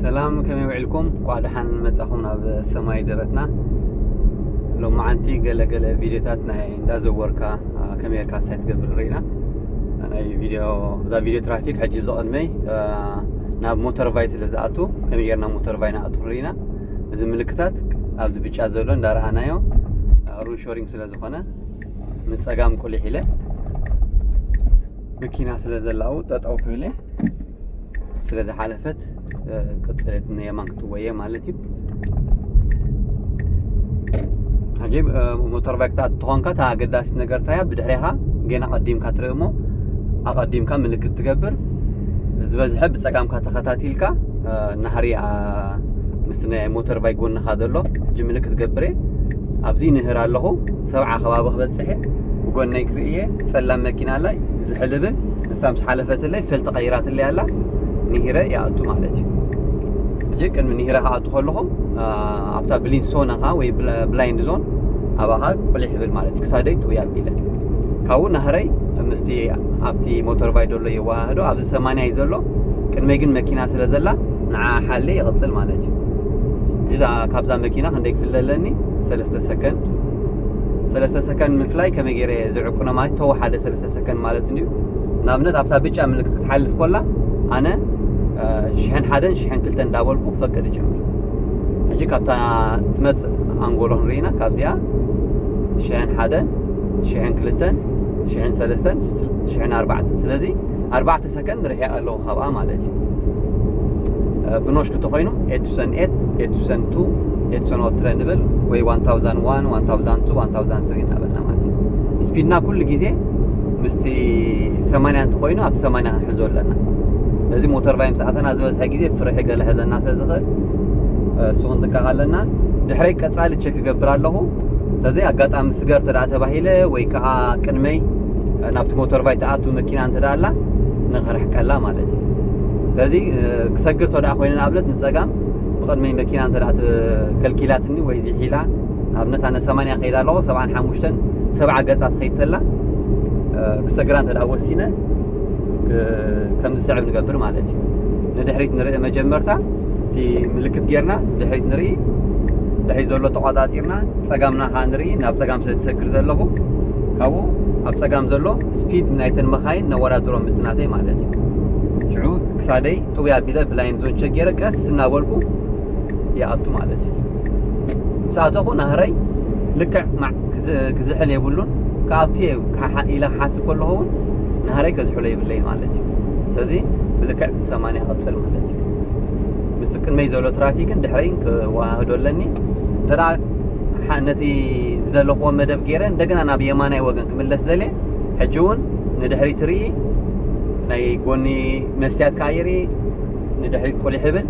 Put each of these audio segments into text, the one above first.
ሰላም ከመይ ውዒልኩም ኳዕ ደሓን መጻኹም ናብ ሰማይ ደረትና ሎመዓንቲ ገለገለ ቪድዮታት ናይ እንዳዘወርካ ከመይ ርካ ስታይ ትገብር ንርኢና ናይ ቪድዮ እዛ ቪድዮ ትራፊክ ሕጂ ብዝቐድመይ ናብ ሞተር ቫይ ስለ ዝኣቱ ከመይ ጌርና ሞተር ቫይ ንኣቱ ንርኢና እዚ ምልክታት ኣብዚ ብጫ ዘሎ እንዳረኣናዮ ሩን ሾሪንግ ስለ ዝኾነ ንፀጋም ቁሊሕ ኢለ መኪና ስለ ዘላ ኣብኡ ጠጠው ክብል እየ ስለ ዝሓለፈት ቅፅለት ንየማን ክትወየ ማለት እዩ ሕጂ ሞተር ባይክ ትኾንካ እታ ኣገዳሲት ነገር እንታያ ብድሕሪኻ ገና ቀዲምካ ትርኢ እሞ ኣቐዲምካ ምልክት ትገብር ዝበዝሐ ብፀጋምካ ተኸታቲልካ ናህሪ ምስ ናይ ሞተር ባይክ ጎንኻ ዘሎ ሕጂ ምልክት ገብረ ኣብዚ ንህር ኣለኹ ሰብዓ ከባቢ ክበጽሕ እየ ብጎነይ ክርኢ እየ ጸላም መኪና ኣላ ዝሕልብን ንሳ ምስ ሓለፈትለይ ፈልቲ ቀይራትለይ ኣላ ንሂረ ይኣቱ ማለት እዩ ሕጂ ቅድሚ ንሂረ ክኣቱ ከለኹ ኣብታ ብሊን ሶን ኻ ወይ ብላይንድ ዞን ኣባኻ ቁሊሕ ይብል ማለት እዩ ክሳደይ ጥውይ ኣቢለ ካብኡ ናህረይ ምስቲ ኣብቲ ሞተር ባይ ደሎ የወሃህዶ ኣብዚ ሰማንያ እዩ ዘሎ ቅድመይ ግን መኪና ስለ ዘላ ንዓ ሓለ ይቕፅል ማለት እዩ እዛ ካብዛ መኪና ክንደይ ክፍለ ኣለኒ ሰለስተ ሰለስተ ሰከንድ ሰለስተ ሰከንድ ምፍላይ ከመይ ገይረ እየ ዝዕቅኖ ማለት ተወሓደ ሰለስተ ሰከንድ ማለት እንድዩ ንኣብነት ኣብታ ብጫ ምልክት ክትሓልፍ ኮላ ኣነ ሽሕን ሓደን ሽሕን ክልተ እንዳበልኩ ፈቅድ ይጀምር ሕጂ ካብታ ትመፅእ ኣንጎሎ ክንርኢና ካብዚኣ ሽሕን ሓደን ሽሕን ክልተን ሽሕን ሰለስተን ሽሕን ኣርባዕተን ስለዚ ኣርባዕተ ግን ርሒቐ ኣለኹ ካብኣ ማለት እዩ ብኖሽኩ ተኾይኑ ኤቱሰን ኤት ኤቱሰን ቱ ኤቱሰን ኦትረ ንብል ወይ ዋን ታውዛን ዋን ዋን ታውዛን ቱ ዋን ታውዛን ስሪ እናበልና ማለት እዩ ስፒድና ኩሉ ግዜ ምስቲ ሰማንያ እንተኾይኑ ኣብ ሰማንያ ክንሕዞ ኣለና እዚ ሞተር ቫይ ምስ ኣተና ዝበዝሐ ግዜ ፍርሒ ገለ ሕዘና ስለ ዝኽእል እሱ ክንጥንቀቕ ኣለና ድሕረይ ቀፃሊ ቸክ ክገብር ኣለኹ ስለዚ ኣጋጣሚ ስገር ተደኣ ተባሂለ ወይ ከዓ ቅድመይ ናብቲ ሞተርባይ ትኣቱ መኪና እንተ ኣላ ንኽርሕቀላ ማለት እዩ ስለዚ ክሰግር ተደኣ ኮይኑ ንኣብነት ንፀጋም ብቕድመይ መኪና እንተ ከልኪላትኒ ወይ ዚሒላ ንኣብነት ኣነ ሰማንያ ከይዳ ኣለኹ ሰብዓን ሓሙሽተን ሰብዓ ገፃ ትኸይድ ተላ ክሰግራ እንተ ወሲነ ከም ዝስዕብ ንገብር ማለት እዩ ንድሕሪት ንርኢ መጀመርታ እቲ ምልክት ጌርና ድሕሪት ንርኢ ድሕሪት ዘሎ ተቋፃፂርና ፀጋምና ከዓ ንርኢ ናብ ፀጋም ስለ ዝሰግር ዘለኹ ካብኡ ኣብ ጸጋም ዘሎ ስፒድ ናይተን መኻይን ነወዳድሮ ምስቲ ናተይ ማለት እዩ ሽዑ ክሳደይ ጥውያ ኣቢለ ብላይን ዞን ቸክ ገይረ ቀስ እናበልኩ ይኣቱ ማለት እዩ ምስ ኣተኹ ናህረይ ልክዕ ክዝሕል የብሉን ክኣቱ እየ ኢለ ክሓስብ ከለኹ እውን ናህረይ ከዝሕሎ የብለይ ማለት እዩ ስለዚ ብልክዕ ብሰማንያ ቅፅል ማለት እዩ ምስቲ ቅድመይ ዘሎ ትራፊክን ድሕረይን ክወሃህዶ ኣለኒ እንተ ነቲ ዝደለኹዎ መደብ ገይረ እንደገና ናብ የማናይ ወገን ክምለስ ደልየ ሕጂ እውን ንድሕሪት ርኢ ናይ ጎኒ መስትያት ከዓ ይርኢ ንድሕሪት ቁሊሕ ይብል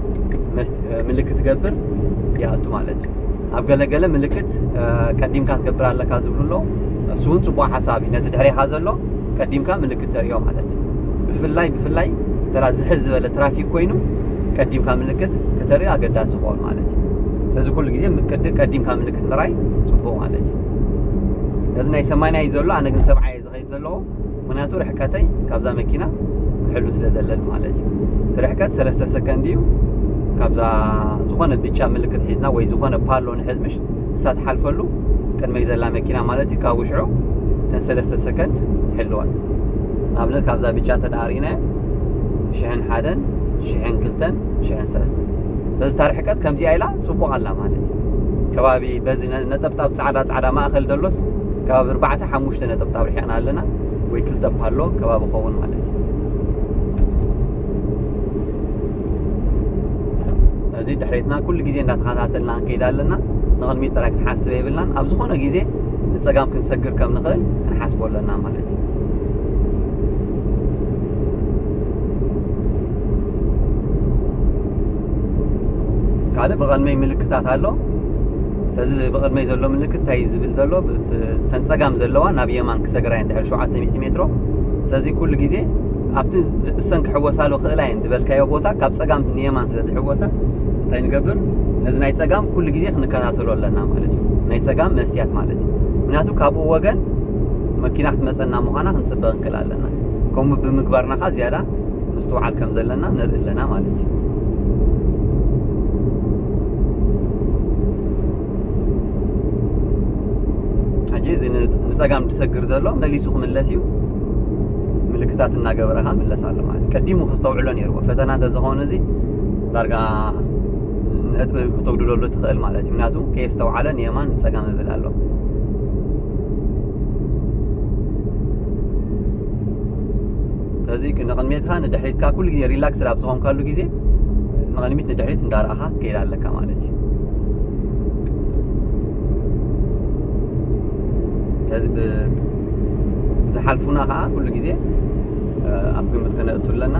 ምልክት ገብር ይኣቱ ማለት እዩ ኣብ ገለገለ ምልክት ቀዲምካ ትገብር ኣለካ ዝብሉ ኣሎ እሱ እውን ፅቡቅ ሓሳብ እዩ ነቲ ድሕሬኻ ዘሎ ቀዲምካ ምልክት ክተርእዮ ማለት እዩ ብፍላይ ብፍላይ ተራ ዝሕል ዝበለ ትራፊክ ኮይኑ ቀዲምካ ምልክት ክተርእዮ ኣገዳሲ ክኾን ማለት እዩ ስለዚ ኩሉ ግዜ ቅዲ ቀዲምካ ምልክት ምርኣይ ፅቡቅ ማለት እዩ እዚ ናይ ሰማንያ እዩ ዘሎ ኣነ ግን ሰብዓ እየ ዝኸይድ ዘለዎ ምክንያቱ ርሕቀተይ ካብዛ መኪና ክሕሉ ስለ ዘለኒ ማለት እዩ እቲ ርሕቀት ሰለስተ ሰከንድ እዩ ካብዛ ዝኾነ ብጫ ምልክት ሒዝና ወይ ዝኾነ ፓሎ ንሕዝ ምሽ ንሳ ትሓልፈሉ ቅድመይ ዘላ መኪና ማለት እዩ ካብኡ ሽዑ ተን ሰለስተ ሰከንድ ይሕልዋ ንኣብነት ካብዛ ብጫ እንተ ደኣ ርኢናዮ ሽሕን ሓደን ሽሕን ክልተን ሽሕን ሰለስተን ስለዚ እታ ርሕቀት ከምዚኣ ኢላ ፅቡቕ ኣላ ማለት እዩ ከባቢ በዚ ነጠብጣብ ፃዕዳ ፃዕዳ ማእኸል ደሎስ ከባቢ ኣርባዕተ ሓሙሽተ ነጠብጣብ ርሒቕና ኣለና ወይ ክልተ ፓሎ ከባቢ ኸውን ማለት እዩ እዚ ድሕሬትና ኩሉ ግዜ እንዳተኸታተልና ክንከይድ ኣለና ንቕድሚት ጥራይ ክንሓስበ የብልናን ኣብ ዝኾነ ግዜ ንፀጋም ክንሰግር ከም ንኽእል ክንሓስቦ ኣለና ማለት እዩ ካልእ ብቐድመይ ምልክታት ኣሎ ስለዚ ብቕድመይ ዘሎ ምልክት እንታይ ዝብል ዘሎ ተንፀጋም ዘለዋ ናብ የማን ክሰግራ እየን ድሕሪ ሸውዓተ ሚእቲ ሜትሮ ስለዚ ኩሉ ግዜ ኣብቲ ዝዕሰን ክሕወሳሉ ክእላ እየን ዝበልካዮ ቦታ ካብ ፀጋም ንየማን ስለ ዝሕወሳ እንታይ ንገብር ነዚ ናይ ፀጋም ኩሉ ግዜ ክንከታተሎ ኣለና ማለት እዩ ናይ ፀጋም መስትያት ማለት እዩ ምክንያቱ ካብኡ ወገን መኪና ክትመፀና ምዃና ክንፅበ ክንክእል ኣለና ከምኡ ብምግባርና ከዓ ዝያዳ ምስትውዓል ከም ዘለና ንርኢ ኣለና ማለት እዩ ሕጂ እዚ ንፀጋም ዝሰግር ዘሎ መሊሱ ክምለስ እዩ ምልክታት እናገበረ ከዓ ምለስ ኣሎ ማለት እዩ ቀዲሙ ከስተውዕሎ ነይርዎ ፈተና እንተዝኸውን እዚ ዳርጋ ነጥቢ ክተጉድለሉ ትኽእል ማለት እዩ ምክንያቱ ከየስተውዓለ ንየማን ፀጋም ይብል ኣሎ ስለዚ ንቕድሜትካ ንድሕሪትካ ኩሉ ግዜ ሪላክስ ኣብ ዝኾንካሉ ግዜ ንቕድሚት ንድሕሪት እንዳረኣኻ ጸኒሕካ ክትከይድ ኣለካ ማለት እዩ ስለዚ ብዝሓልፉና ከዓ ኩሉ ግዜ ኣብ ግምት ከነእቱ ኣለና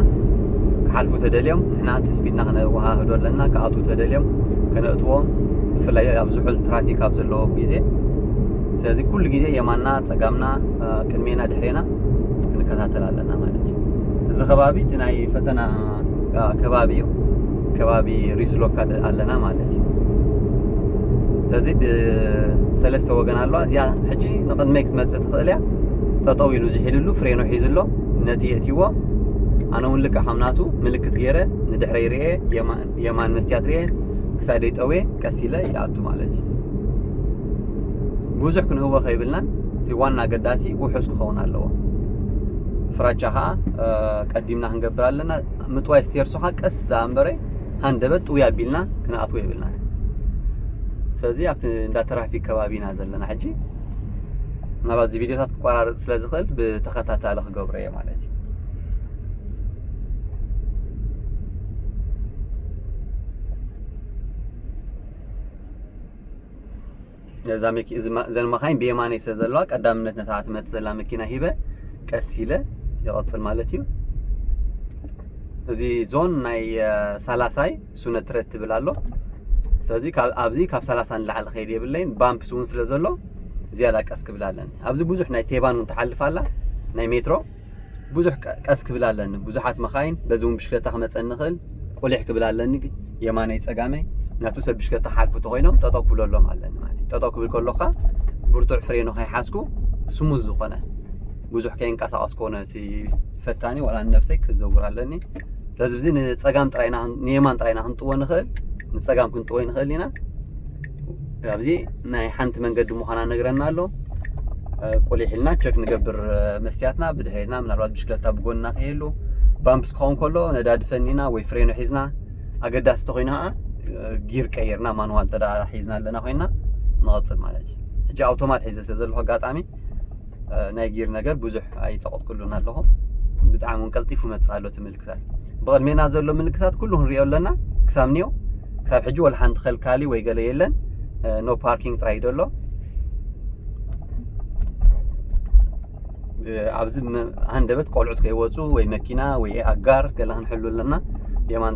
ክሓልፉ ተደልዮም ንሕና ትስፒድና ከነወሃህዶ ኣለና ክኣትዉ ተደልዮም ከነእትዎም ብፍላይ ኣብ ዝሑል ትራፊክ ኣብ ዘለዎ ግዜ ስለዚ ኩሉ ግዜ የማና ፀጋምና ቅድሜና ድሕሬና ክንከታተል ኣለና ማለት እዩ እዚ ከባቢ እቲ ናይ ፈተና ከባቢ እዩ ከባቢ ሪስሎካ ኣለና ማለት እዩ ስለዚ ብሰለስተ ወገን ኣለዋ እዚኣ ሕጂ ንቕድመይ ክትመፅእ ትኽእል እያ ጠጠው ኢሉ ዝሒልሉ ፍሬኖ ሒዙ ኣሎ ነቲ የእትዎ ኣነ እውን ልክዕ ከም ናቱ ምልክት ገይረ ንድሕረይ ርኤ የማን መስትያት ርኤ ክሳደይ ጠዌ ቀስ ኢለ ይኣቱ ማለት እዩ ብዙሕ ክንህወ ከይብልናን እቲ ዋና ኣገዳሲ ውሑስ ክኸውን ኣለዎ ፍራቻ ከዓ ቀዲምና ክንገብር ኣለና ምጥዋይ ስቴርሶኻ ቀስ ደኣ እምበረ ሃንደበት ጥውይ ኣቢልና ክንኣትዎ የብልና ስለዚ ኣብቲ እንዳ ትራፊክ ከባቢ ኢና ዘለና ሕጂ ምናልባት እዚ ቪድዮታት ክቆራረፅ ስለ ዝኽእል ብተኸታታሊ ክገብሮ እየ ማለት እዩ ነዛ መኪ- እዚ ማ- እዘን መኻይን ብየማነይ ስለ ዘለዋ ቀዳምነት ነታ ትመጽእ ዘላ መኪና ሂበ ቀስ ኢለ ይቐጽል ማለት እዩ እዚ ዞን ናይ አ፣ ሳላሳይ ሱነትረት ትብል ኣሎ ስለዚ ካብ ኣብዚ ካብ 30 ንላዕሊ ከይድ የብለይን ባምፕስ እውን ስለ ዘሎ ዝያዳ ቀስ ክብል ኣለኒ ኣብዚ ብዙሕ ናይ ቴባን እውን ትሓልፍ ኣላ ናይ ሜትሮ ብዙሕ ቀስ ክብል ኣለኒ ብዙሓት መኻይን በዚ እውን ብሽክለታ ክመፀኒ ይኽእል ቁሊሕ ክብል ኣለኒ የማነይ ፀጋመይ ናቱ ሰብ ብሽክለታ ሓልፉ ተኮይኖም ጠጠው ክብለሎም ኣለኒ ማለት እዩ ጠጠው ክብል ከሎካ ብርቱዕ ፍሬኑ ከይሓዝኩ ስሙዝ ዝኾነ ብዙሕ ከይንቀሳቀስ ኮነ እቲ ፈታኒ ዋላ ንነብሰይ ክዘውር ኣለኒ ስለዚ እዚ ንፀጋም ጥራይና ንየማን ጥራይና ክንጥዎ ንኽእል ንፀጋም ክንጥዎ ንኽእል ኢና ኣብዚ ናይ ሓንቲ መንገዲ ምዃና ነግረና ኣሎ ቁሊሕ ኢልና ቸክ ንገብር መስትያትና ብድሕሪትና ምናልባት ብሽክለታ ብጎንና ከይህሉ ባምፕስ ክኸውን ከሎ ነዳዲ ፈኒና ወይ ፍሬኖ ሒዝና ኣገዳሲ ተኮይኑ ከዓ ጊር ቀይርና ማንዋል ተዳ ሒዝና ኣለና ኮይና ንቐፅል ማለት እዩ ሕጂ ኣውቶማት ሒዘ ስለ ዘለኹ ኣጋጣሚ ናይ ጊር ነገር ብዙሕ ኣይጠቐጥኩሉን ኣለኹ ብጣዕሚ እውን ቀልጢፉ መፅእ ኣሎ እቲ ምልክታት ብቕድሜና ዘሎ ምልክታት ኩሉ ክንሪኦ ኣለና ክሳብ ኒው ክሳብ ሕጂ ወላ ሓንቲ ከልካሊ ወይ ገለ የለን ኖ ፓርኪንግ ጥራይ ደሎ ኣብዚ ሃንደበት ቆልዑት ከይወፁ ወይ መኪና ወይ ኣጋር ገለ ክንሕሉ ኣለና የማን